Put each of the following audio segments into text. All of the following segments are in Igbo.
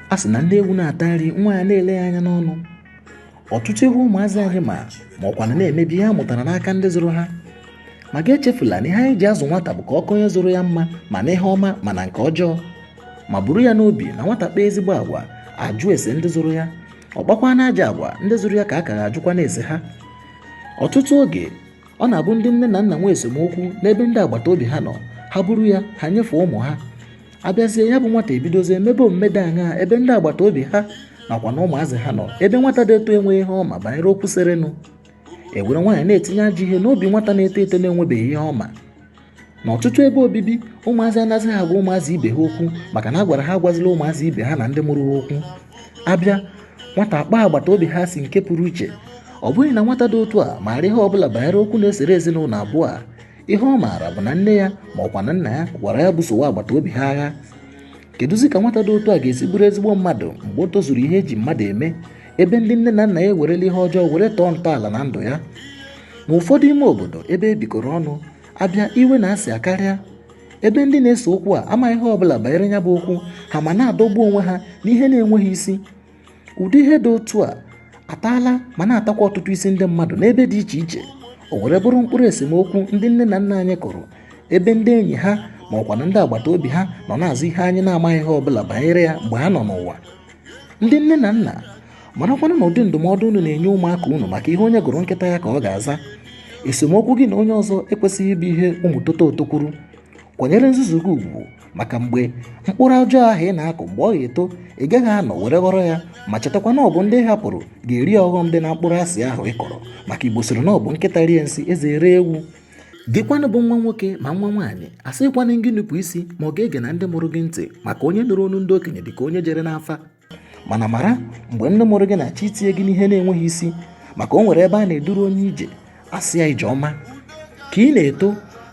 a sị na nne ewu na-ata nri nwa ya na-ele ya anya n'ọnụ ọtụtụ ihe ụmụazị anyị ma ma ọkwanụ na-eme bụ ihe ha mụtara n'aka ndị zụrụ ha ma gị echefula na ihe anyị ji azụ nwata bụ ka ọ ka onye zụrụ ya mma ma na ihe ọma ma na nke ọjọọ ma buru ya n'obi na nwata kpaa ezigbo agwa a jụọ ese ndị zụrụ ya ọ kpakwanụ ajọ agwa ndị zụrụ ya ka a ka ga-ajụkwanụ ese ha ọtụtụ oge ọ na-abụ ndị nne na nna nwee esemokwu n'ebe ndị agbata obi ha nọ ha buru ya ha nyefee ụmụ ha a bịazie ya bụ nwata ebidozie mebe omume dị aṅaa ebe ndị agbata obi ha nakwa na ụmụazị ha nọ ebe nwata dị etu a enweghị ihe ọ ma banyere okwu serenụ e were nwayọ na-etinye ajọ ihe n'obi nwata na-eto eto na-enwebeghị ihe ọ ma n'ọtụtụ ebe obibi ụmụazị anazịghị agwa ụmụazị ibe ha okwu maka na a gwara ha agwazila ụmụazị ibe ha na ndị mụrụ ha okwu a bịa nwata akpọọ agbata obi ha asị nke pụrụ iche ọ bụghị na nwata dị otu a maara ihe ọbụla banyere okwu na-esere ezinụlọ abụọ a ihe ọ maara bụ na nne ya ma ọkwanụ nna ya gwara ya busowa agbata obi ha agha kedụzi ka nwata dị otu a ga-esi bụrụ ezigbo mmadụ mgbe o tozuru ihe e ji mmadụ eme ebe ndị nne na nna ya ewerela ihe ọjọọ were tọọ ntọala na ndụ ya N'ụfọdụ ime obodo ebe e bikọrọ ọnụ, a bịa iwe na asị akarịa ebe ndị na-ese okwu a amaghị ihe ọbụla banyere ya bụ okwu ha ma na-adọgbu onwe ha n'ihe na-enweghị isi ụdị ihe dị otu a ataala ma na-atakwa ọtụtụ isi ndị mmadụ n'ebe dị iche iche o were bụrụ mkpụrụ esemokwu ndị nne na nna anyị kụrụ ebe ndị enyi ha ma ọkwanụ ndị agbata obi ha nọ na-azọ ihe anyị na-amaghị ihe ọbụla banyere ya mgbe ha nọ n'ụwa ndị nne na nna marakwanụ na ụdị ndụmọdụ unu na-enye ụmụaka unu maka ihe onye gụrụ nkịta ya ka ọ ga-aza esemokwu gị na onye ọzọ ekwesịghị ịbụ ihe ụmụ toto oto kwuru kwanyere nzuzu gị ugwu maka mgbe mkpụrụ ọjọọ ahụ ị na-akụ mgbe ọ ga-eto ị gaghị anọ were ghọrọ ya ma chetakwa na ọ bụ ndị ị hapụrụ ga-eri ọghọm dị na mkpụrụ asị ahụ ị kọrọ maka igbo sịrị na ọ bụ nkịta rie nsị eze ere ewu gịkwanụ bụ nwa nwoke ma nwa nwaanyị asịkwana gị nupụ isi ma ọ gị egena ndị mụrụ gị ntị maka onye nụrụ onu ndị okenye dịka onye jere n'afa mana mara mgbe nne mụrụ gị na-achọ itinye gị n'ihe na-enweghị isi maka o nwere ebe a na-eduru onye ije a sị ya ije ọma ka ị na-eto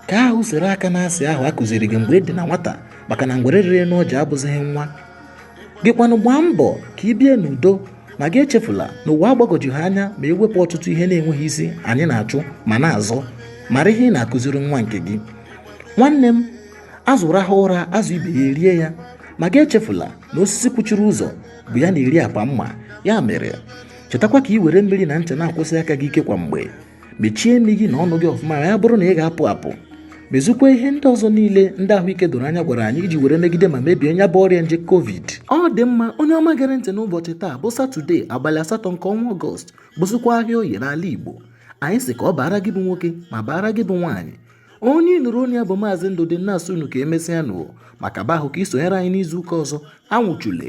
ka ahụ sere aka na asị ahụ a kụziri gị mgbe ị dị na nwata maka na ngwere rịrị n'ọja abụzighị nwa gịkwanụ gbaa mbọ ka ị bie n'udo ma gị echefula na ụwa agbagọju ha anya ma ewepụ ọtụtụ ihe na-enweghị isi anyị na-achụ ma na-azọ mara ihe ị na-akụziri nwa nke gị nwanne m azụ rahụ ụra azụ ibe ya erie ya ma gị echefula na osisi kwuchiri ụzọ bụ ya na-eri apa mma ya mere chetakwa ka ị were mmiri na ncha na-akwọsi aka gị ike kwa mgbe mechie imi gị na ọnụ gị ọfụma ya bụrụ na ị ga-apụ apụ mezukwa ihe ndị ọzọ niile ndị ahụike doro anya gwara anyị iji were megide ma mebie nya bụ ọrịa nje covid ọ dị mma onye ọma gere ntị n'ụbọchị taa bụ satọde abalị asatọ nke ọnwa ọgọst bụzikwa ahịa oye n'ala igbo anyị sị ka ọ baara gị bụ nwoke ma baara gị bụ nwaanyị onye nụrụ onye ya bụ maazị ndụdị na-asị unu ka emesịa nụ maka bahụ ka isonyere anyị n'izu ụka ọzọ anwụchule